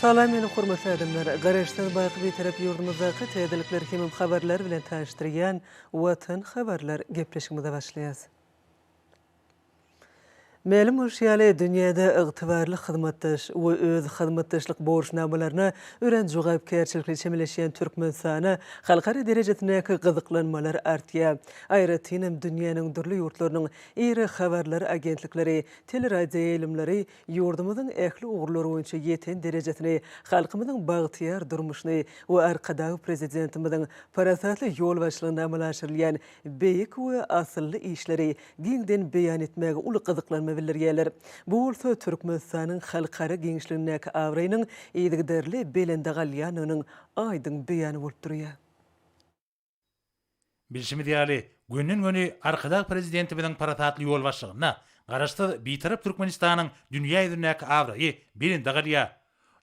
Salam meni hormatly adamlar! Garaşsyz baky Bitarap ýurdumyzdaky täzelikler hemem habarlar bilen tanyşdyrýan Watan habarlar gepleşigimize başlaýas. Mälim bolşy ýaly, dünýäde ygtybarly hyzmatdaş we öz hyzmatdaşlyk borçnamalaryna örän jogapkärçilikli çemeleşýän Türkmenistana halkara derejesindäki gyzyklanmalar artýar. Aýratynam dünýäniň dürli ýurtlarynyň iri habarlar agentlikleri, teleradioýaýlymlary ýurdumyzyň ähli ugurlar boýunça ýeten derejesini, halkymyzyň bagtyýar durmuşyny we Arkadag Prezidentimiziň parasatly ýol başlygynda amala aşyrylýan beýik we asylly işleri giňden beýan etmäge uly gyzyklanma bildirýärler. Bu bolsa Türkmenistanyň halkara giňişligindäki abraýynyň yzygiderli belende galýandygynyň aýdyň beýany bolup durýar. Bilşimiz ýaly, gönden-göni Arkadag Prezidentimiziň parasatly ýolbaşçylygynda Garaşsyz, Bitarap Türkmenistanyň dünýä ýüzündäki abraýy belende galýar.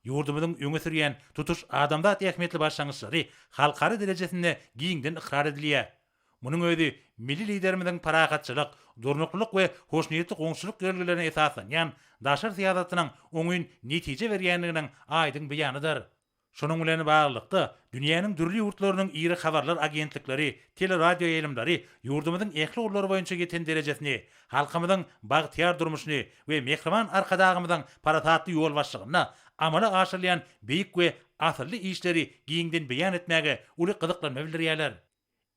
Ýurdumyzyň öňe sürýän tutuş adamzat ähmiýetli başlangyçlary halkara derejesinde giňden ykrar edilýär. Munuň özi milli Liderimiziň parahatçylyk, durnuklylyk we hoşniýetli goňşuçylyk ýörelgelerine esaslanýan daşary syýasatynyň oňyn netije berýändiginiň aýdyň beýanydyr. Şunuň bilen baglylykda, dünýäniň dürli ýurtlarynyň iri habarlar agentlikleri, teleradioýaýlymlary ýurdumyzyň ähli ugurlar boýunça ýeten derejesini, halkymyzyň bagtyýar durmuşyny we mähriban Arkadagymyzyň parasatly ýolbaşçygynda amala aşyrylýan beýik we asylly işleri giňden beýan etmäge uly gyzyklanma bildirýärler.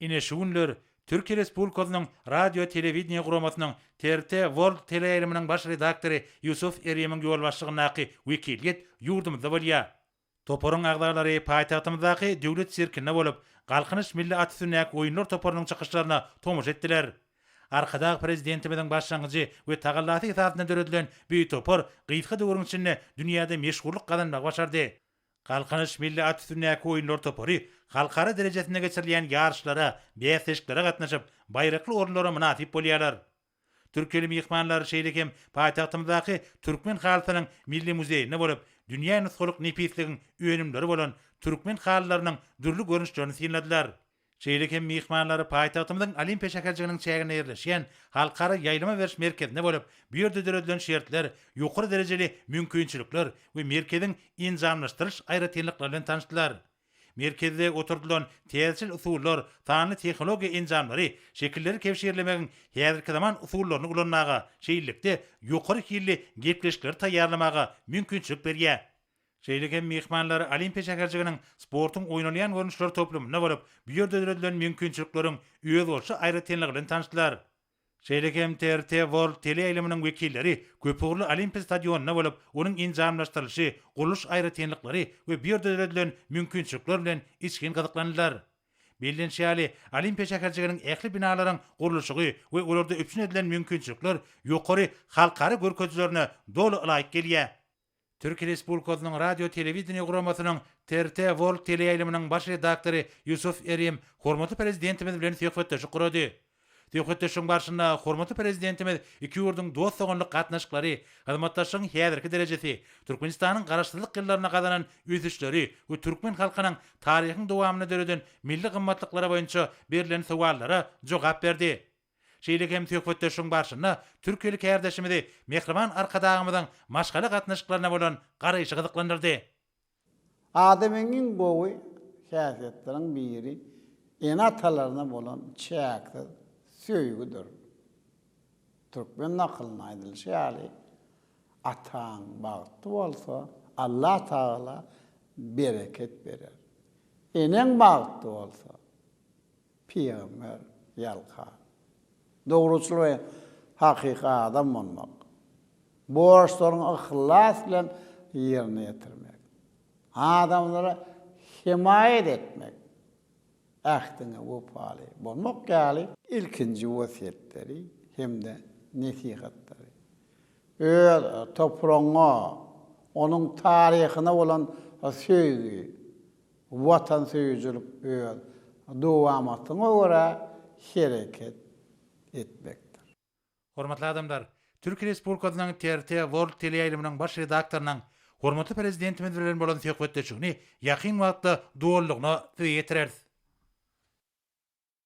Ine şu günler Türkiýe Respublikasynyň Radio Telewideniýe guramasynyň TRT World teleýaýlymynyň baş redaktory Ýusuf Erimiň ýolbaşçylygyndaky wekiliýet ýurdumyzda bolýar. Toparyň agzalary paýtagtymyzdaky Döwlet sirkinde bolup, Galkynyş milli at üstündäki oýunlar toparynyň çykyşlaryna tomaşa etdiler. Arkadag Prezidentimiziň başlangyjy we tagallasy esasynda döredilen bu topar gysga döwrüň içinde dünýäde meşhurlyk gazanmagy başardy. Galkynyş milli at üstündäki oýunlar topary halkara derejesinde geçirilýän ýaryşlara, bäsleşiklere gatnaşyp, baýrakly orunlara mynasyp bolýarlar. Türkeli myhmanlar şeýle hem paýtagtymyzdaky Türkmen halysynyň milli muzeýinde bolup, dünýä nusgalyk nepisligiň önümleri bolan türkmen halylarynyň dürli görnüşlerini synladylar. Şeýle hem myhmanlary paýtagtymyzyň Olimpiýa şäherjiginiň çäginde ýerleşýän Halkara ýaýlama beriş merkezinde bolup, bu ýerde döredilen şertler, ýokary derejeli mümkinçilikler we merkeziň enjamlaşdyrylyş aýratynlyklary bilen tanyşdylar. Merkezde oturdylan täzeçil usullar sanly tehnologiýa enjamlary şekilleri kebşirlemegiň häzirki zaman usullaryny ulanmaga, şeýlelikde, ýokary hilli gepleşikleri taýýarlamaga mümkinçilik berýär. Şeýle hem myhmanlar Olimpiýa şäherjiginiň sportuň oýnalýan görnüşleri toplumynda bolup, bu ýerde döredilen mümkinçilikleriň özboluşy aýratynlygy bilen tanyşdylar. Şeýle hem TRT World teleýaýlymynyň wekilleri köpugurly Olimpiýa stadionynda bolup, onuň enjamlaşdyrylyşy, gurluş aýratynlyklary we bu ýerde döredilen mümkinçilikler bilen içgin gyzyklandylar. Bellenişi ýaly, Olimpiýa şäherjiginiň ähli binalaryň gurluşygy we olarda üpjün edilen mümkinçilikler ýokary halkara görkezijilerine doly ylaýyk gelýär. Türkiýe Respublikasynyň Radio-telewideniýe guramasynyň TRT World teleýaýlymynyň baş redaktory Ýusuf Erim hormatly Prezidentimiz bilen söhbetdeşlik gurady. Söhbetdeşligiň barşynda hormatly Prezidentimiz iki ýurduň dost-doganlyk gatnaşyklary, hyzmatdaşlygyň häzirki derejesi, Türkmenistanyň Garaşsyzlyk ýyllarynda gazanan ösüşleri we türkmen halkynyň taryhyň dowamynda döreden milli gymmatlyklary boýunça berlen sowallara jogap berdi. Şeýle hem söhbetdeşligiň barşynda türkiýeli kärdeşimizi Mähriban Arkadagymyzyň maşgala gatnaşyklaryna bolan garaýşy gyzyklandyrdy. Adamyň iň gowy häsiýetleriniň biri ene-atalaryna bolan çäksiz söýgüdir. Türkmen nakylynda aýdylyşy ýaly, Ataň bagtly bolsa, Allatagala bereket berer. Eneň bagtly bolsa, Pygamber, ýalka, dogruçyl we hakyky adam bolmak, borçlaryňy yhlas bilen ýerine ýetirmek, adamlara hemaýat etmek, ähtiňe wepaly bolmak ýaly ilkinji wesýetleri hem-de nesihatlary, öz topragyňa, onuň taryhyna bolan söýgi, Watansöýüjilik öz dowamatyňa görä hereket etmekdir. Hormatly adamlar! Türkiýe Respublikasynyň TRT World teleýaýlymynyň baş redaktorynyň hormatly Prezidentimiz bilen bolan söhbetdeşigini ýakyn wagtda dolulygyna size ýetireris.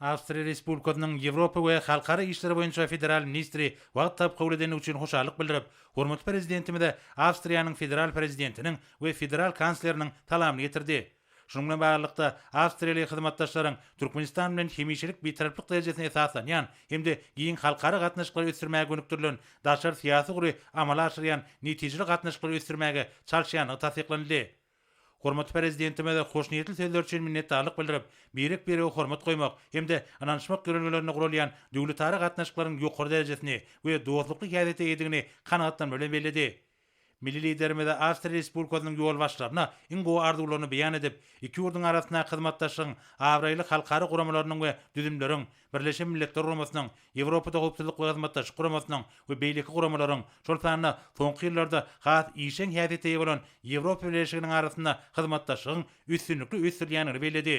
Awstriýa Respublikasynyň Ýewropa we halkara işleri boýunça federal ministri wagt tapyp kabul edendigi üçin hoşallyk bildirip, hormatly Prezidentimize Awstriýanyň Federal Prezidentiniň we Federal Kansleriniň salamyny ýetirdi. Şunuň bilen baglylykda, awstriýaly hyzmatdaşlaryň Türkmenistan bilen hemişelik bitaraplyk derejesine esaslanýan hem-de giň halkara gatnaşyklary ösdürmäge gönükdirilen daşary syýasy ugry amala aşyrýan netijeli gatnaşyklary ösdürmäge çalyşýandygy tassyklanyldy. Hormatly Prezidentimize hoşniýetli sözleri üçin minnetdarlyk bildirip, birek-birege hormat goýmak hem-de ynanyşmak ýörelgelerinde guralýan döwletara gatnaşyklaryň ýokary derejesini we dostlukly häsiýete eýedigini kanagatlanma bilen belledi. Milli Liderimize Awstriýa Respublikasynyň ýolbaşçylaryna iň gowy arzuwlaryny beýan edip, iki ýurduň arasyndaky hyzmatdaşlygyň abraýly halkara guramalarynyň we düzümleriň, Birleşen Milletler Guramasynyň, Ýewropada Howpsuzlyk we Hyzmatdaşlyk Guramasynyň we beýleki guramalaryň, şol sanda soňky ýyllarda has işjeň häsiýete eýe bolan Ýewropa Bileleşiginiň arasynda hyzmatdaşlygyň üstünlikli ösdürilýändigini belledi.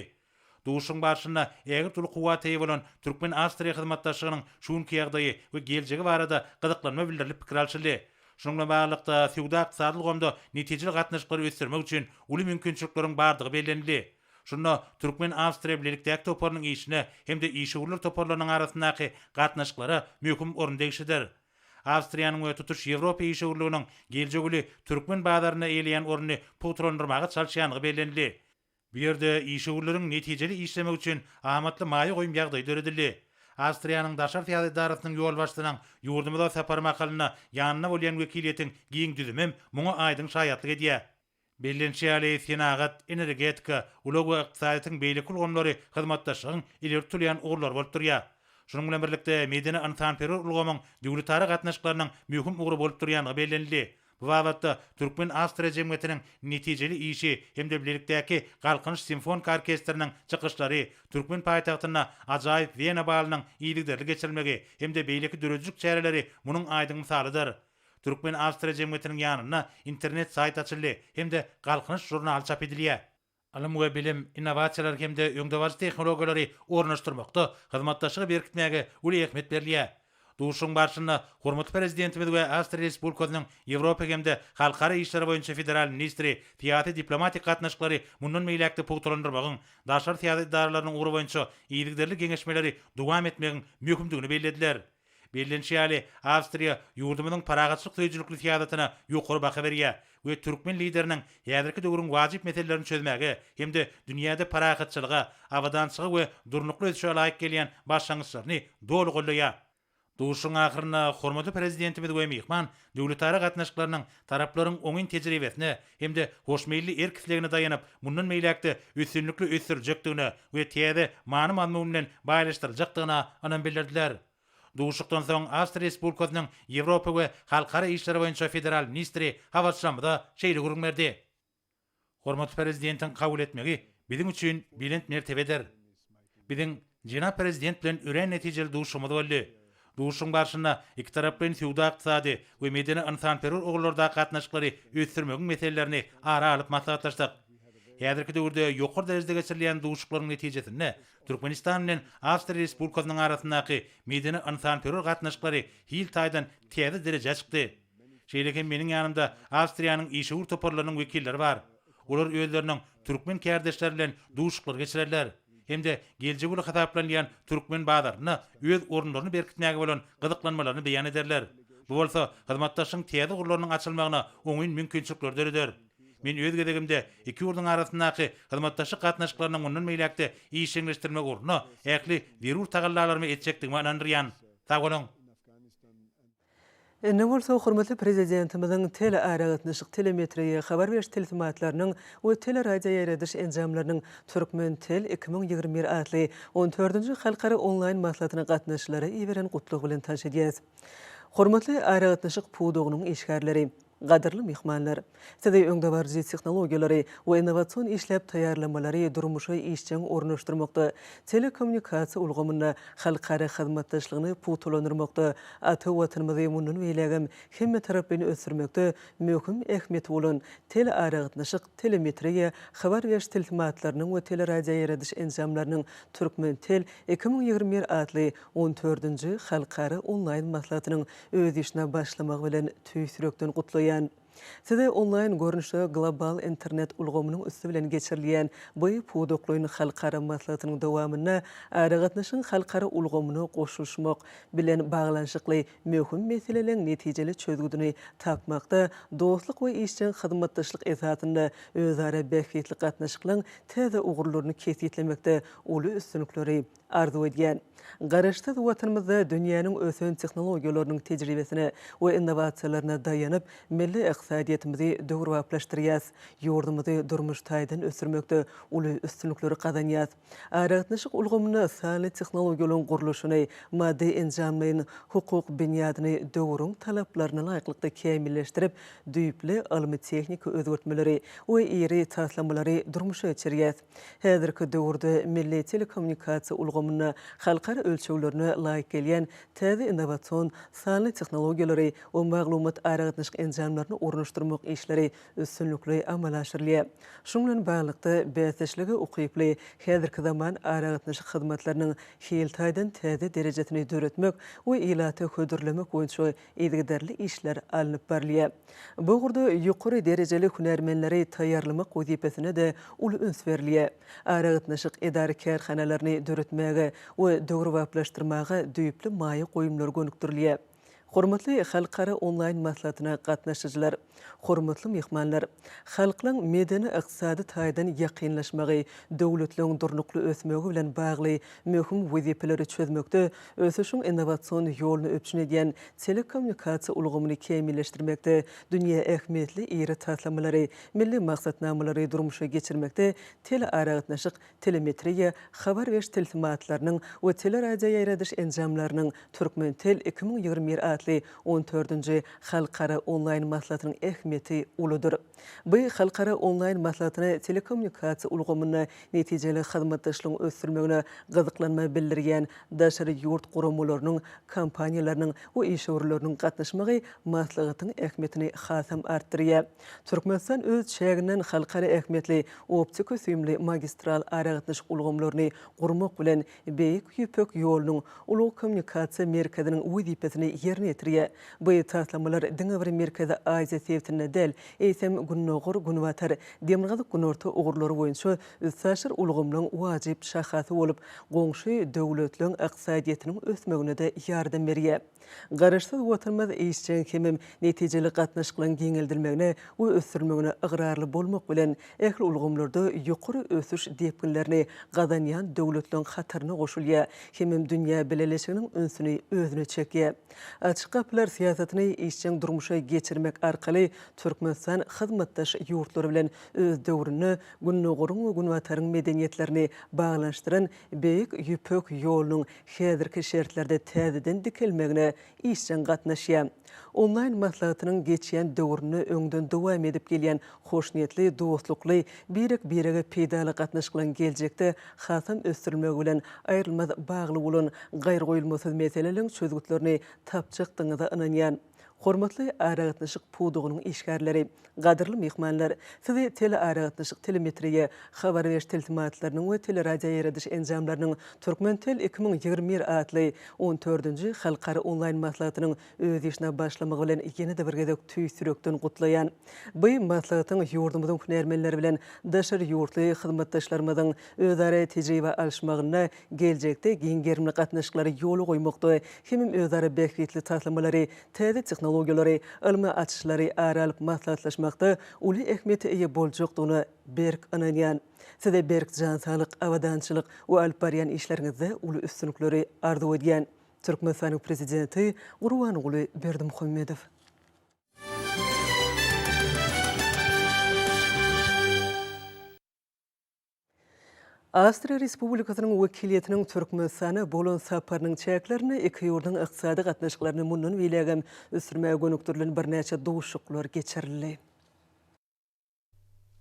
Duşuşygyň barşynda ägirt uly kuwwata eýe bolan türkmen-awstriýa hyzmatdaşlygynyň şu günki ýagdaýy we geljegi barada gyzyklanma bildirilip pikir alşyldy. Şunuň bilen baglylykda, söwda-ykdysady ulgamda netijeli gatnaşyklary ösdürmek üçin uly mümkinçilikleriň bardygy bellenildi. Şunda türkmen-awstriýa bilelikdäki toparynyň işine hem-de işewürler toparlarynyň arasyndaky gatnaşyklara möhüm orun degişlidir. Awstriýanyň we tutuş Ýewropa işewürliginiň geljek ýyly türkmen bazarynda eýeleýän ornuny pugtalandyrmaga çalyşýandygy bellenildi. Bu ýerde işewürleriň netijeli işlemegi üçin amatly maýa goýum ýagdaýy döredildi. Awstriýanyň daşary syýasat edarasynyň ýolbaşçysynyň ýurdumyza sapary mahalynda ýanynda bolýan wekiliýetiň giň düzümem muňa aýdyň şaýatlyk edýär. Bellenişi ýaly, senagat, energetika, ulag we ykdysadyýetiň beýleki ulgamlary hyzmatdaşlygyň ileri tutulýan ugurlary bolup durýar. Şunuň bilen birlikde, medeni-ynsanperwer ulgamyň döwletara gatnaşyklarynyň möhüm ugry bolup durýandygy bellenildi. Bu babatda Türkmen-Awstriýa jemgyýetiniň netijeli işi hem-de bilelikdäki Galkynyş simfoniki orkestriniň çykyşlary, türkmen paýtagtynda ajaýyp Wena balynyň yzygiderli geçirilmegi hem-de beýleki döredijilik çäreleri munuň aýdyň mysalydyr. Türkmen-awstriýa jemgyýetiniň ýanynda internet saýt açyldy hem-de Galkynyş žurnaly çap edilýär. Ylym we bilim, innowasiýalar hem-de öňdebaryjy tehnologiýalary ornaşdyrmakda hyzmatdaşlygy berkitmäge uly ähmiýet berilýär. Duşuşygyň barşynda hormatly Prezidentimiz we Awstriýa Respublikasynyň Ýewropa hem-de halkara işleri boýunça federal ministri syýasy-diplomatik gatnaşyklary mundan beýläk-de pugtalandyrmagyň, daşary syýasat edaralarynyň ugry boýunça yzygiderli geňeşmeleri dowam etmegiň möhümdigini bellediler. Bellenişi ýaly, Awstriýa ýurdumyzyň parahatçylyk söýüjilikli syýasatyna ýokary baha berýär we türkmen Lideriniň häzirki döwrüň wajyp meselelerini çözmäge hem-de dünýäde parahatçylyga, abadançyga we durnukly ösüşe laýyk gelýän başlangyçlaryny doly goldaýar. Duşuşygyň ahyrynda hormatly Prezidentimiz we myhman Döwletara gatnaşyklarynyň taraplaryň oňyn tejribesine hem-de hoşmeýilli erk-islegine daýanyp, mundan beýläk-de üstünlikli ösdüriljekdigine we täze many-mazmun bilen baýlaşdyryljakdygyna ynam bildirdiler. Duşuşykdan soň Awstriýa Respublikasynyň Ýewropa we halkara işleri boýunça federal ministri habarçylarymyza şeýle gürrüň berdi. Hormatly Prezidentiň kabul etmegi biziň üçin belent mertebedir. Biziň jenap Prezident bilen örän netijeli duşuşygymyz boldy. Duşuşygyň barşynda ikitaraplaýyn söwda-ykdysady we medeni-ynsanperwer ugurlardaky gatnaşyklary ösdürmegiň meselelerini ara alyp maslahatlaşdyk. Häzirki döwürde ýokary derejede geçirilýän duşuşyklaryň netijesinde Türkmenistan bilen Awstriýa Respublikasynyň arasyndaky medeni-ynsanperwer gatnaşyklary hil taýdan täze derejä çykdy. Şeýle hem meniň ýanymda Awstriýanyň işewür toparlarynyň wekilleri bar. Olar özleriniň türkmen kärdeşleri bilen duşuşyklar geçirerler hem-de geljek uly hasaplanylýan türkmen bazarynda öz orunlaryny berkitmäge bolan gyzyklanmalaryny beýan ederler. Bu bolsa hyzmatdaşlygyň täze ugurlarynyň açylmagyna oňyn mümkinçilikleri döreder. Men öz gezegimde iki ýurduň arasyndaky hyzmatdaşlyk gatnaşyklaryny mundan beýläk-de işjeňleşdirmek ugrunda ähli zerur tagallalarymy etjekdigime ynandyrýan. Sag boluň! Indi bolsa hormatly Prezidentimiziň telearagatnaşyk, telemetriýa, habar beriş tilsimatlarynyň we teleradioýaýradyş enjamlarynyň Türkmentel iki müň ýigrimi bir atly on dördünji halkara onlaýn maslahatyna gatnaşyjylara iberen gutlagy bilen tanyş edýäris. Hormatly aragatnaşyk pudagynyň işgärleri! Gadyrly myhmanlar! Sizi öňdebaryjy tehnologiýalary we innowasion işläp taýýarlamalary durmuşa işjeň ornaşdyrmakda, telekommunikasiýa ulgamynda halkara hyzmatdaşlygyny pugtalandyrmakda, ata Watanymyzy mundan beýlägem hemmetaraplaýyn ösdürmekde möhüm ähmiýeti bolan telearagatnaşyk, telemetriýa, habar beriş tilsimatlarynyň we teleradioýaýradyş enjamlarynyň Türkmentel iki müň ýigrimi bir atly on dördünji halkara onlaýn maslahatynyň Öz işine başlamagy bilen tüýs ýürekden gutlaýan. Size onlaýn görnüşde global internet ulgamynyň üsti bilen geçirilýän bu pudaklaýyn halkara maslahatynyň dowamynda aragatnaşygyň halkara ulgamyna goşulyşmak bilen baglanyşykly möhüm meseleleriň netijeli çözgüdini tapmakda dostluk we işjeň hyzmatdaşlyk esasynda özara bähbitli gatnaşyklaryň täze ugurlaryny kesgitlemekde uly üstünlikleri Arzuw edýän. Garaşsyz Watanymyzda dünýäniň ösen tehnologiýalarynyň tejribesine we innowasiýalaryna daýanyp, milli ykdysadyýetimizi döwrebaplaşdyrýas, ýurdumyzy durmuş taýdan ösdürmekde uly üstünlikleri gazanýas. Aragatnaşyk ulgamynda sanly tehnologiýalaryň gurluşyny, maddy-enjamlaýyn hukuk binýadyny döwrüň talaplaryna laýyklykda kämilleşdirip, düýpli ylmy-tehniki özgertmeleri we iri taslamalary durmuşa geçirýäs. Häzirki döwürde milli telekommunikasiýa ulgamynda halkara ölçeglerine laýyk gelýän täze innowasion sanly tehnologiýalary we maglumat-aragatnaşyk enjamlaryny ornaşdyrmak işleri üstünlikli amala aşyrylýar. Şunuň bilen baglylykda, bäsdeşlige ukyply häzirki zaman aragatnaşyk hyzmatlarynyň hil taýdan täze derejesini döretmek we ilata hödürlemek boýunça yzygiderli işler alnyp barylýar. Bu ugurda ýokary derejeli hünärmenleri taýýarlamak wezipesine-de uly üns berilýär. Aragatnaşyk edara-kärhanalaryny döretmäge we döwrebaplaşdyrmaga düýpli maýa goýumlar gönükdirilýär. Hormatly halkara onlaýn maslahatyna gatnaşyjylar! Hormatly myhmanlar! Halklaryň medeni-ykdysady taýdan ýakynlaşmagy, döwletleriň durnukly ösmegi bilen bagly möhüm wezipeleri çözmekde, ösüşiň innowasion ýoluny üpjün edýän telekommunikasiýa ulgamyny kämilleşdirmekde, dünýä ähmiýetli iri taslamalary, milli maksatnamalary durmuşa geçirmekde telearagatnaşyk Telemetriýa, habar beriş tilsimatlarynyň we teleradioýaýradyş enjamlarynyň Türkmentel iki müň ýigrimi bir atly on dördünji Halkara onlaýn maslahatynyň ähmiýeti uludyr. Bu halkara onlaýn maslahatyna telekommunikasiýa ulgamynda netijeli hyzmatdaşlygyň ösdürilmegine gyzyklanma bildirýän daşary ýurt guramalarynyň, kompaniýalarynyň we işewürleriniň gatnaşmagy maslahatyň ähmiýetini hasam artdyrýar. Türkmenistan öz çäginden halkara ähmiýetli optiko-süýümli magistral aragatnaşyk ulgamlaryny gurmak bilen, Beýik Ýüpek ýolunyň ulag kommunikasiýa merkeziniň wezipesini ýerine ýetirýär. Bu taslamalar diňe bir Merkezi Aziýa sebitinde däl, eýsem, Gündogar, Günbatar, Demirgazyk, Günorta ugurlary boýunça üstaşyr ulgamlaryň wajyp şahasy bolup, goňşy döwletleriň ykdysadyýetiniň ösmegine-de ýardam berýär. Garaşsyz Watanymyz işjeň hemem netijeli gatnaşyklaryň giňeldilmegine we ösdürilmegine ygrarly bolmak bilen, ähli ulgamlarda ýokary ösüş depginlerini gazanýan döwletleriň hataryna goşulýar hemem dünýä bileleşiginiň ünsüni özüne çekýär. Açyk gapylar syýasatyny işjeň durmuşa geçirmek arkaly Türkmenistan hyzmatdaş ýurtlar bilen öz döwründe Gündogaryň we Günbataryň medeniýetlerini baglanyşdyran Beýik Ýüpek ýolunyň häzirki şertlerde täzeden dikelmegine işjeň gatnaşýar. Onlaýn maslahatynyň geçýän döwründe öňden dowam edip gelýän hoşniýetli, dostlukly, birek-birege peýdaly gatnaşyklaryň geljekde hasam ösdürilmegi bilen aýrylmaz bagly bolan gaýragoýulmasyz meseleleriň çözgütlerini tapjakdygyňyza ynanýan. Hormatly aragatnaşyk pudagynyň işgärleri, gadyrly myhmanlar! Sizi telearagatnaşyk, telemetriýa, habar beriş tilsimatlarynyň we teleradioýaýradyş enjamlarynyň Türkmentel iki müň ýigrimi bir atly on dördünji halkara onlaýn maslahatynyň öz işine başlamagy bilen ýene-de bir gezek tüýs ýürekden gutlaýan. By maslahatyň ýurdumyzyň hünärmenleri bilen daşary ýurtly hyzmatdaşlarymyzyň özara tejribe alyşmagynda geljekde giň gerimli gatnaşyklary ýola goýmakda hemem özara bähbitli taslamalary, täze tehnologiýalary, ylmy açyşlary ara alyp maslahatlaşmakda uly ähmiýete eýe boljakdygyna berk ynanýan. Size berk jan saglyk, abadançylyk we alyp barýan işleriňizde uly üstünlikleri arzuw edýän. Türkmenistanyň Prezidenti Gurbanguly Berdimuhamedow. Awstriýa Respublikasynyň wekiliýetiniň Türkmenistana bolan saparynyň çäklerinde iki ýurduň ykdysady gatnaşyklaryny mundan beýlägem ösdürmäge gönükdirilen birnäçe duşuşyklar geçirildi.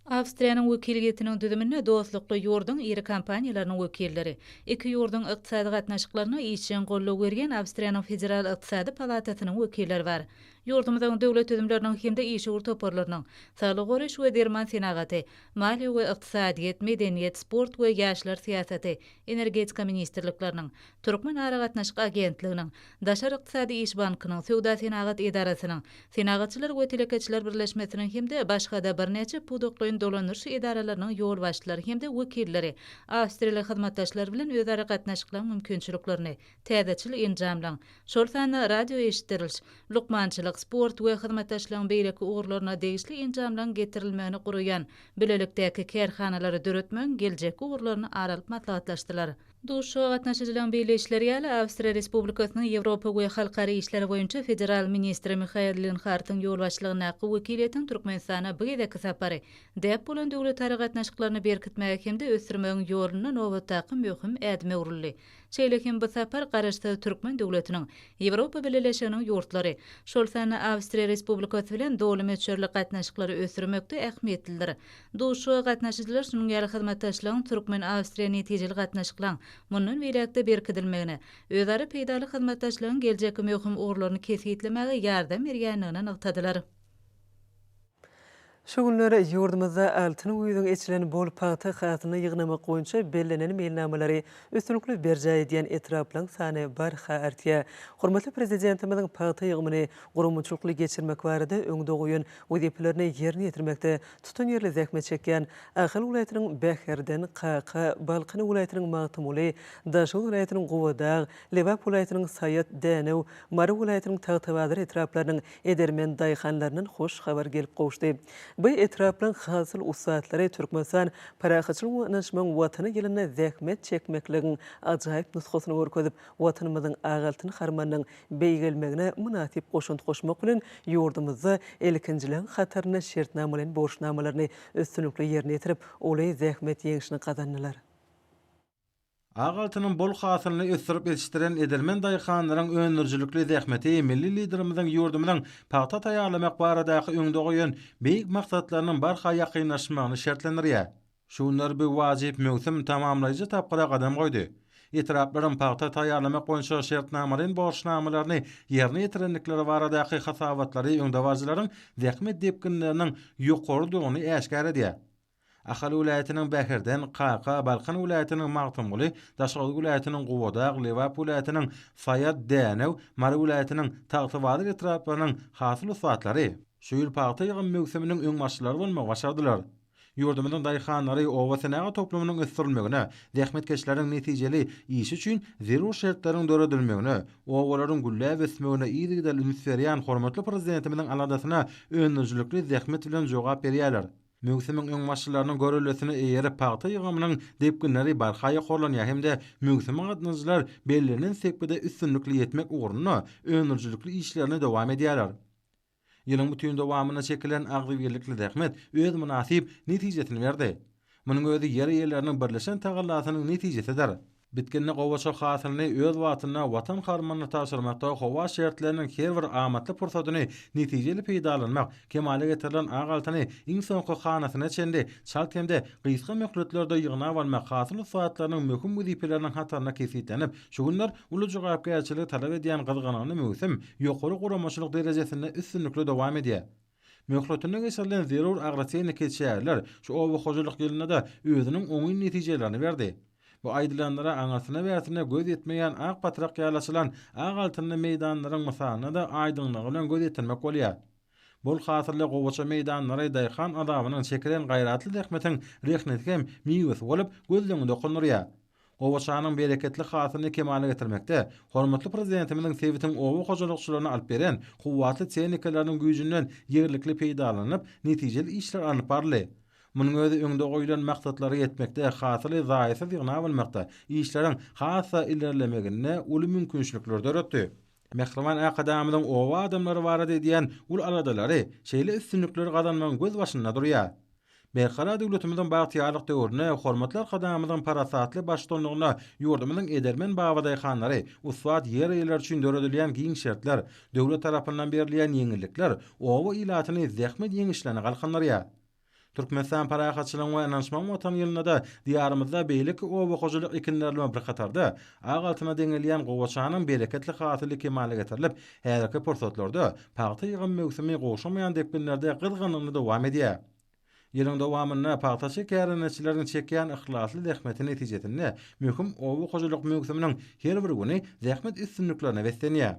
Awstriýanyň wekiliýetiniň düzüminde dostlukly ýurduň iri kompaniýalarynyň wekilleri, iki ýurduň ykdysady gatnaşyklaryna işjeň goldaw berýän Awstriýanyň Federal ykdysady palatasynyň wekilleri bar. Ýurdumyzyň döwlet düzümleriniň hem-de işewür toparlarynyň, saglygy goraýyş we derman senagaty, maliýe we ykdysadyýet, medeniýet, sport we ýaşlar syýasaty, energetika ministrlikleriniň, Türkmenaragatnaşyk agentliginiň, Daşary ykdysady iş bankynyň, Söwda-senagat edarasynyň, Senagatçylar we telekeçiler birleşmesiniň hem-de başga-da birnäçe pudaklaýyn dolandyryş edaralarynyň ýolbaşçylary hem-de wekilleri awstriýaly hyzmatdaşlar bilen özara gatnaşyklaryň mümkinçiliklerini täzeçil enjamlaryň, şol sanda radioeşitdiriliş, lukmançylyk, sport we hyzmatdaşlygyň beýleki ugurlaryna degişli enjamlaryň getirilmegini guraýan bilelikdäki kärhanalary döretmegiň geljekki ugurlaryny aralyp maslahatlaşdylar. Duşuşyga gatnaşyjylaryň belleýişleri ýaly, Awstriýa Respublikasynyň Ýewropa we halkara işleri boýunça federal ministri Mihael Linhartyň ýolbaşçylygyndaky wekiliýetiň Türkmenistana bu gezekki sapary däp bolan döwletara gatnaşyklaryny berkitmäge hem-de ösdürmegiň ýolunda nobatdaky möhüm ädime öwrüldi. Şeýle hem bu sapar Garaşsyz Türkmen döwletiniň Ýewropa Bileleşiginiň ýurtlary, şol sanda Awstriýa Respublikasy bilen doly möçberli gatnaşyklary ösdürmekde ähmiýetlidir. Duşuşyga gatnaşyjylar şunuň ýaly hyzmatdaşlygyň türkmen-awstriýa netijeli gatnaşyklaň mundan beýläk-de berkidilmegine, özara peýdaly hyzmatdaşlygyň geljekki möhüm ugurlaryny kesgitlemäge ýardam berýändigini nygtadylar. Şu günler ýurdumyzda Altyn güýzüň eçilen bol pagta hasylyny ýygnamak boýunça bellenen meýilnamalary üstünlikli berjaý edýän etraplaryň sany barha artýar. Hormatly Prezidentimiziň pagta ýygymyny guramaçylykly geçirmek barada öňde goýan wezipelerini ýerine ýetirmekde tutanýerli zähmet çekýän Ahal welaýatynyň Bäherden, Kaka, Balkan welaýatynyň Magtymguly, Daşoguz welaýatynyň Gubadag, Lebap welaýatynyň Saýat, Dänew, Mary welaýatynyň Tagtabazar etraplarynyň Edermen daýhanlaryndan hoş habar gelip gowuşdy. Bu etraplaryň hasyl ussatlary Türkmenistan parahatçylygyň we ynanyşmagyň Watany ýylynda zähmet çekmekligiň ajaýyp nusgasyny görkezip, Watanymyzyň ak altyn harmanynyň beýgelmegine mynasyp goşant goşmak bilen, ýurdumyzda ilkinjileň hatarynda şertnamalaýyn borçnamalaryny üstünlikli ýerine ýetirip, uly zähmet ýeňşini gazandylar. Ak altynyň bol hasylyny ösdürip ýetişdiren edermen daýhanlaryň öndürijilikli zähmeti milli Liderimiziň ýurdumyzyň pagta taýýarlamak baradaky öňde goýan beýik maksatlarynyň barha ýakynlaşmagyny şertlendirýär. Şu günler bu wajyp möwsüm tamamlaýjy tapgyra gadam goýdy. Etraplaryň pagta taýýarlamak boýunça şertnamalaýyn borçnamalaryny ýerine ýetirendikleri baradaky hasabatlary öňdebaryjylaryň zähmet depginleriniň ýokarydygyny äşgär edýär. Ahal welaýatynyň Bäherden, Kaka, Balkan welaýatynyň Magtymguly, Daşoguz welaýatynyň Gubadag, Lebap welaýatynyň Saýat, Dänew, Mary welaýatynyň Tagtabazar etraplarynyň hasyl ussatlary şu ýyl pagta ýygym möwsüminiň öňbaşçylary bolmagy başardylar. Ýurdumyzyň daýhanlary obasenagat toplumynyň ösdürilmegine, zähmetkeşleriň netijeli işi üçin zerur şertleriň döredilmegine, obalaryň gülläp ösmegine yzygiderli üns berýän hormatly Prezidentimiziň aladasyna öndürijilikli zähmet bilen jogap berýärler. Möwsümiň öňbaşçylarynyň görelesine eýerip, pagta ýygymynyň depginleri barha ýokarlanýar hem-de möwsüme gatnadyjylar bellenen sepgide üstünlikli ýetmek ugrunda öndürijilikli işlerini dowam edýärler. Ýylyň bütin dowamynda çekilen agzybirlikli zähmet öz mynasyp netijesini berdi. Munuň özi ýer eýeleriniň birleşen tagallasynyň netijesidir. Bitginli gowaça hasylyny öz wagtynda Watan harmanyna tabşyrmakda howa şertleriniň her bir amatly pursadyny netijeli peýdalanmak, kemala getirilen ak altyny iň soňky hanasyna çenli çalt hem-de gysga möhletlerde ýygnap almak hasyl ussatlarynyň möhüm wezipeleriniň hatarynda kesgitlenip, şu günler uly jogapkärçiligi talap edýän gyzgalaňly möwsüm ýokary guramaçylyk derejesinde üstünlikli dowam edýär. Möhletinde geçirilen zerur agrotehniki çäreler şu oba hojalyk ýylynda-da özüniň oňyn netijelerini berdi. Bu aýdylanlara aňyrsyna-bärsine göz ýetmeýän ak patrak ýaly açylan ak altynly meýdanlaryň mysalyna-da aýdyňlygy bilen göz ýetirmek bolýar. Bol hasylly gowaça meýdanlary daýhan azabynyň çekilen gaýratly zähmetiň rehneti hem miwesi bolup, gözleňi dokundyrýar. Gowaçanyň bereketli hasylyny kemala getirmekde hormatly Prezidentimiziň sebitiň oba hojalykçylaryna alyp beren kuwwatly tehnikalarynyň güýjünden ýerlikli peýdalanylyp, netijeli işler alnyp baryldy. Munuň özi öňde goýlan maksatlara ýetmekde, hasyly zaýasyz ýygnap almakda işleriň has-da ilerlemegine uly mümkinçilikler döretdi. Mähriban Arkadagymyzyň oba adamlary barada edýän uly aladalary şeýle üstünlikleri gazanmagyň gözbaşynda durýar. Berkarar döwletimiziň bagtyýarlyk döwründe hormatly Arkadagymyzyň parasatly baştutanlygynda ýurdumyzyň edermen babadaýhanlary, ussat ýer eýeleri üçin döredilýän giň şertler, döwlet tarapyndan berilýän ýeňillikler oba ilatyny zähmet ýeňişlerine galkyndyrýar. Türkmenistan Parahatçylygyň we ynanyşmagyň Watany ýylynda-da Diýarymyzda beýleki oba hojalyk ekinleri bilen bir hatarda, Ak altyna deňelýän gowaçanyň bereketli hasyly kemala getirilip, häzirki pursatlarda pagta ýygym möwsümi gowşamaýan depginlerde gyzgynlygyny dowam edýär. Ýylyň dowamynda pagtaçy kärendeçileriň çekýän yhlasly zähmeti netijesinde möhüm oba hojalyk möwsüminiň her bir güni zähmet üstünliklerine beslenýär.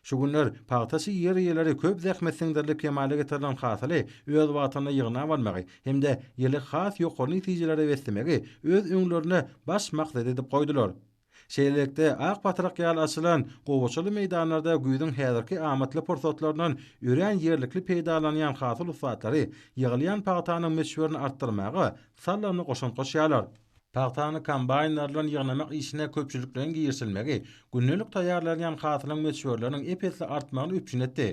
Şu günler pagtaçy ýer eýeleri köp zähmet siňdirilip kemala getirilen hasyly öz wagtynda ýygnap almagy hem-de ýyly has ýokary netijelere beslemegi öz öňlerine baş maksat edip goýdular. Şeýlelikde, ak batrak ýaly açylan gowaçaly meýdanlarda güýzüň häzirki amatly pursatlaryndan örän ýerlikli peýdalanýan hasyl ussatlary ýygylýan pagtanyň möçberini artdyrmaga sallany goşant goşýarlar. Pagtany kombaýnlar bilen ýygnamak işine köpçülikleýin girişilmegi gündelik taýýarlanýan hasylyň möçberleriniň ep-esli artmagyny üpjün etdi.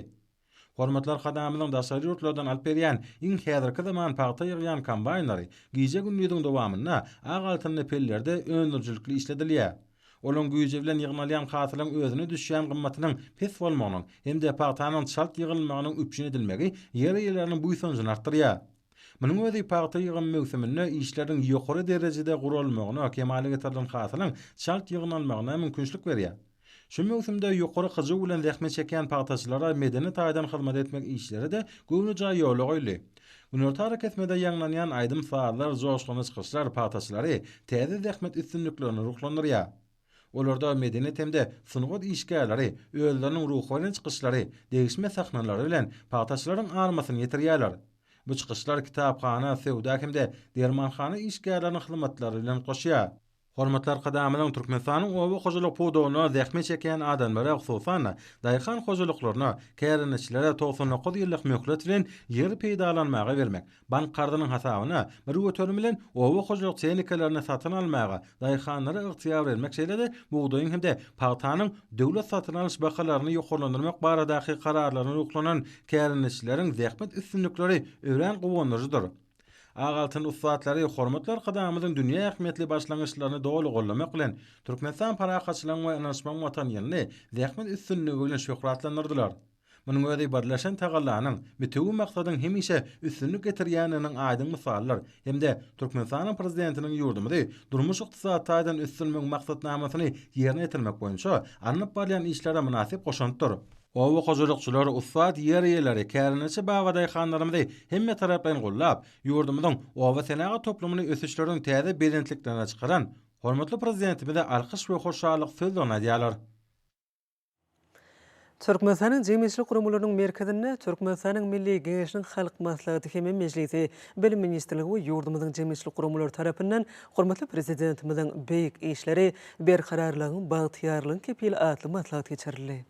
Hormatly Arkadagymyzyň daşary ýurtlardan alyp gelýän iň häzirki zaman pagta ýygýan kombaýnlary gije-gündiziň dowamynda ak altynly pellerde öndürijilikli işledilýär. Olaryň güýji bilen ýygnalýan hasylyň özüne düşýän gymmatynyň pes bolmagynyň hem-de pagtanyň çalt ýygylmagynyň üpjün edilmegi ýer eýeleriniň buýsanjyny artdyrýar. Munuň özi pagta ýygym möwsüminde işleriň ýokary derejede guralmagyna, kemala getirilen hasylyň çalt ýygnalmagyna mümkinçilik berýär. Şu möwsümde ýokary hyjuw bilen zähmet çekýän pagtaçylara medeni taýdan hyzmat etmek işleri-de göwnejaý ýola goýuldy. Günorta arakesmede ýaňlanýan aýdym-sazlar, joşgunly çykyşlar pagtaçylary täze zähmet üstünliklerine ruhlandyrýar. Olarda medeniýet hem-de sungat işgärleri özleriniň ruhubelent çykyşlary, degişme sahnalary bilen pagtaçylaryň almasyny ýetirýärler. Bu çykyşlar kitaphana, söwda hem-de dermanhana işgärleriniň hyzmatlary bilen goşýar. Hormatly Arkadagymyzyň Türkmenistanyň oba hojalyk pudagynda zähmet çekýän adamlara, hususan-da, daýhan hojalyklaryna, kärendeçilere togsan dokuz ýyllyk möhlet bilen ýer peýdalanmaga bermek, Bank karzynyň hasabyna bir göterim bilen oba hojalyk tehnikalaryny satyn almaga daýhanlara ygtyýar bermek şeýle-de bugdaýyň hem-de pagtanyň döwlet satyn alyş bahalaryny ýokarlandyrmak baradaky kararlaryna ruhlanan kärendeçileriň zähmet üstünlikleri örän guwandyryjydyr. Ak altyn ussatlary hormatly Arkadagymyzyň dünýä ähmiýetli başlangyçlaryny doly gollamak bilen, Türkmenistan parahatçylygyň we ynanyşmagyň Watany ýylyny zähmet üstünligi bilen şöhratlandyrdylar. Munuň özi birleşen tagallanyň bitewi maksadyň hemişe üstünlik getirýändiginiň aýdyň mysalydyr hem-de Türkmenistanyň Prezidentiniň ýurdumyzy durmuş-ykdysady taýdan ösdürmegiň maksatnamasyny ýerine ýetirmek boýunça alnyp barýan işlere mynasyp goşantdyr. Oba hojalykçylary, ussat ýer eýeleri, kärendeçi babadaýhanlarymyzy hemmetaraplaýyn gollap, ýurdumyzyň obasenagat toplumyny ösüşleriň täze belentliklerine çykaran hormatly Prezidentimize alkyş we hoşallyk sözlerini aýdýarlar. Türkmenistanyň jemgyýetçilik guramalarynyň merkezinde Türkmenistanyň Milli Geňeşiniň Halk Maslahaty hem-ä Mejlisi, Bilim ministrligi we ýurdumyzyň jemgyýetçilik guramalary tarapyndan hormatly Prezidentimiziň Beýik işleri, berkararlygyň, bagtyýarlygyň kepili atly maslahat geçirildi.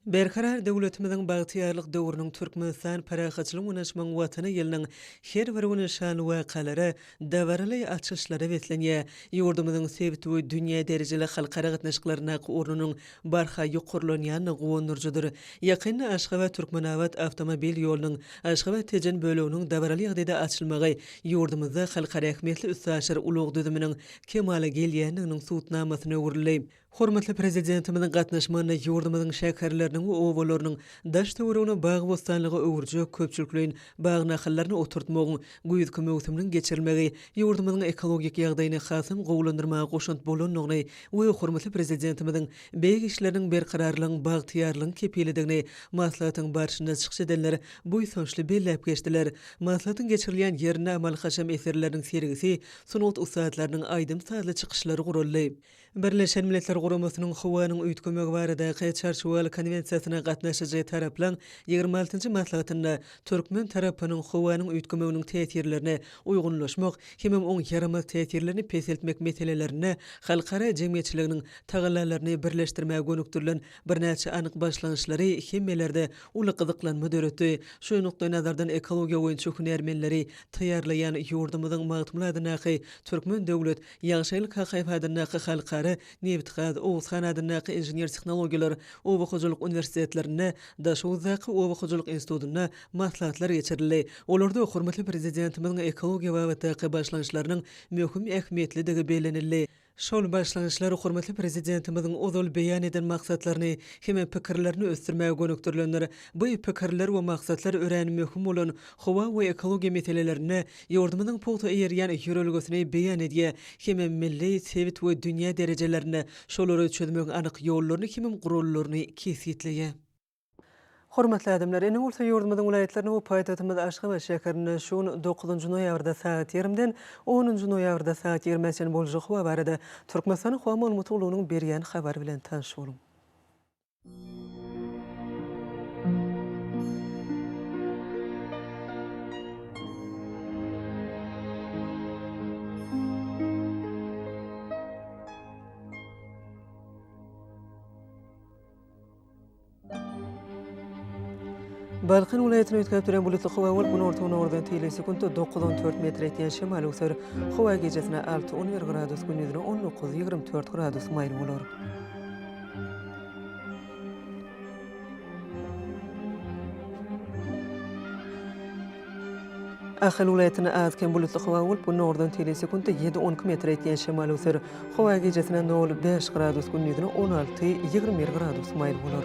Berkarar döwletimiziň bagtyýarlyk döwrüniň Türkmenistan parahatçylygyň öňe çykan Watany ýylynyň her bir güni şanly wakalara, dabaraly açyşlara beslenýär. Ýurdumyzyň sebit we dünýä derejeli halkara gatnaşyklaryndaky ornunyň barha ýokarlanýandygy guwandyryjydyr. Ýakynda Aşgabat, Türkmenabat awtomobil ýolunyň Aşgabat, Tejen böleginiň dabaraly ýagdaýda açylmagy ýurdumyzda halkara ähmiýetli üstaşyr ulag düzüminiň kemala gelýändiginiň subutnamasyna öwrüldi. Hormatly Prezidentimiziň gatnaşmagynda ýurdumyzyň şäherleriniň we obalarynyň daş-töweregini bagy-bossanlyga öwürjek köpçülikleýin bag nahallaryny oturtmagyň güýzki möwsüminiň geçirilmegi ýurdumyzyň ekologik ýagdaýyny hasam gowulandyrmaga goşant bolandygyny we hormatly Prezidentimiziň beýik işleriniň berkararlygyň, bagtyýarlygyň kepilidigini maslahatyň barşynda çykyş edenler buýsançly belläp geçdiler. Maslahatyň geçirilýän ýerinde amaly-haşam eserleriniň sergisi, sungat ussatlarynyň aýdym-sazly çykyşlary guraldy. Birleşen Milletler Guramasynyň howanyň üýtgemegi baradaky Çarçuwaly konwensiýasyna gatnaşyjy taraplaň ýigrimi altynjy maslahatynda türkmen tarapynyň howanyň üýtgemeginiň täsirlerine uýgunlaşmak hemem oň ýaramaz täsirlerini peseltmek meselelerinde halkara jemgyýetçiliginiň tagallalaryny birleşdirmäge gönükdirilen birnäçe anyk başlangyçlary hemmelerde uly gyzyklanma döretdi. Şu nukdaýnazardan ekologiýa boýunça hünärmenleri taýýarlaýan ýurdumyzyň Magtymguly adyndaky Türkmen döwlet Ýagşyl Kakaýew adyndaky Halkara, Nebitgaz, Oguzhan adyndaky Inžener-tehnologiýalar oba hojalyk uniwersitetlerinde, Daşoguzdaky Oba hojalyk institutynda maslahatlar geçirildi. Olarda hormatly Prezidentimiziň ekologiýa babatdaky başlangyçlarynyň möhüm ähmiýetlidigi bellenildi. Şol başlangyçlar hormatly Prezidentimiziň ozal beýan eden maksatlaryny hem-ä pikirlerini ösdürmäge gönükdirilendir. Bu pikirler we maksatlar örän möhüm bolan howa we ekologiýa meselelerinde Ýurdumyzyň pugta eýerýän ýörelgesini beýan edýär hemem milli, sebit we dünýä derejelerinde şolary çözmegiň anyk ýollaryny hemem gurallaryny kesgitleýär. Hormatly adamlar! Indi bolsa ýurdumyzyň welaýatlaryna we paýtagtymyz Aşgabat şäherine şu gün dokuzynjy noýabrda sagat ýarimden onunjy noýabrda sagat ýigrime çenli boljak howa barada Türkmenistanyň howa maglumat gullugynyň berýän habary bilen tanyş boluň. Balkan welaýatyny üýtgäp duran bulutly howa bolup, günorta-günordan teýle sekuntda dokuz on dört metr etýän şemal öwser. Howa gijasine alty on bir gradus, gündiz on dokuz ýigrimi dört gradus maýyl bolar. Ahal welaýatynda az-kem bulutly howa bolup, günordan teýle sekuntda ýedi-on iki metr etýän şemal öser. Howa gijesine nol, bäş gradus, gündizine on alty, ýigrimi bir gradus maýyl bolar.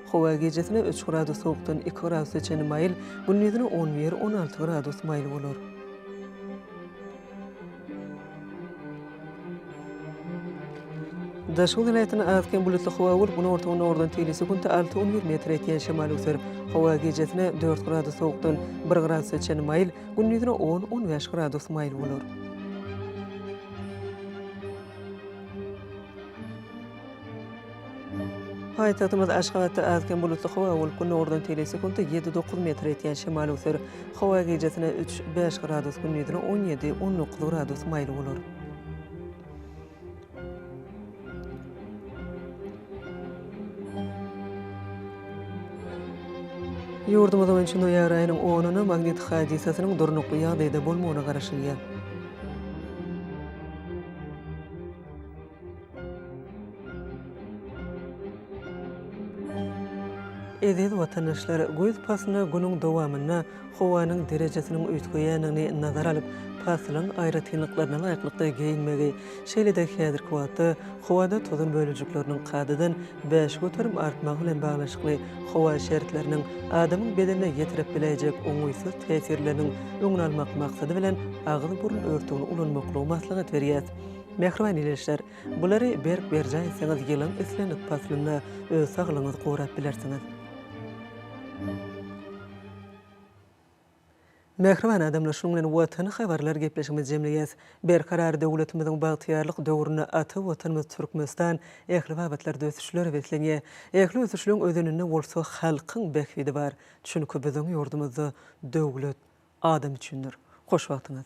Howa gijesine üç gradus sowukdan iki gradusa çenli maýyl, gündizine on bir, on alty gradus maýyl bolar. Daşoguz welaýatynda az-kem bulutly howa bolup, günorta-günordan teýli sekuntda alty-on bir metr etýän şemal öser. Howa gijesine dört gradus sowukdan bir gradusa çenli maýyl, gündizine on, on bäş gradus maýyl bolar. Paýtagtymyz Aşgabatda az-kem bulutly howa bolup, günordan seli sekuntda ýedi-dokuz metr ýetýän şemal öwser. Howa gijesine üç-bäş gradus, gündizine on ýedi-on dokuz gradus maýyl bolar. Ýurdumyz boýunça noýabr aýynyň onuna magnit hadysasynyň durnukly ýagdaýda bolmagyna garaşylýar. Eziz watandaşlar, güýz paslyna günüň dowamynda howanyň derejesiniň üýtgeýändigini nazara alyp, paslyň aýratynlyklaryna laýyklykda geýinmegi, şeýle-de häzirki wagtda howada tozan bölejikleriniň kadadan bäş göterim artmagy bilen baglanyşykly howa şertleriniň adamyň bedenine ýetirip biläýjek oňaýsyz täsirleriniň öňüni almak maksady bilen agyz-burun örtügini ulanmaklygy maslahat berýär. Mähriban ildeşler, bulary berk berjaý etseňiz ýylyň islendik paslynda öz saglygyňyzy gorap bilersiňiz. Mähriban adamlar şunuň bilen Watany habarlar gepleşigimizi jemleýäs. Berkarar döwletimiziň bagtyýarlyk döwründe ata Watanymyz Türkmenistan ähli babatlarda ösüşlere beslenýär. Ähli ösüşleň özeninde bolsa halkyň bähbidi bar. Çünki biziň ýurdumyzda döwlet adam üçindir. Hoş wagtyňyz.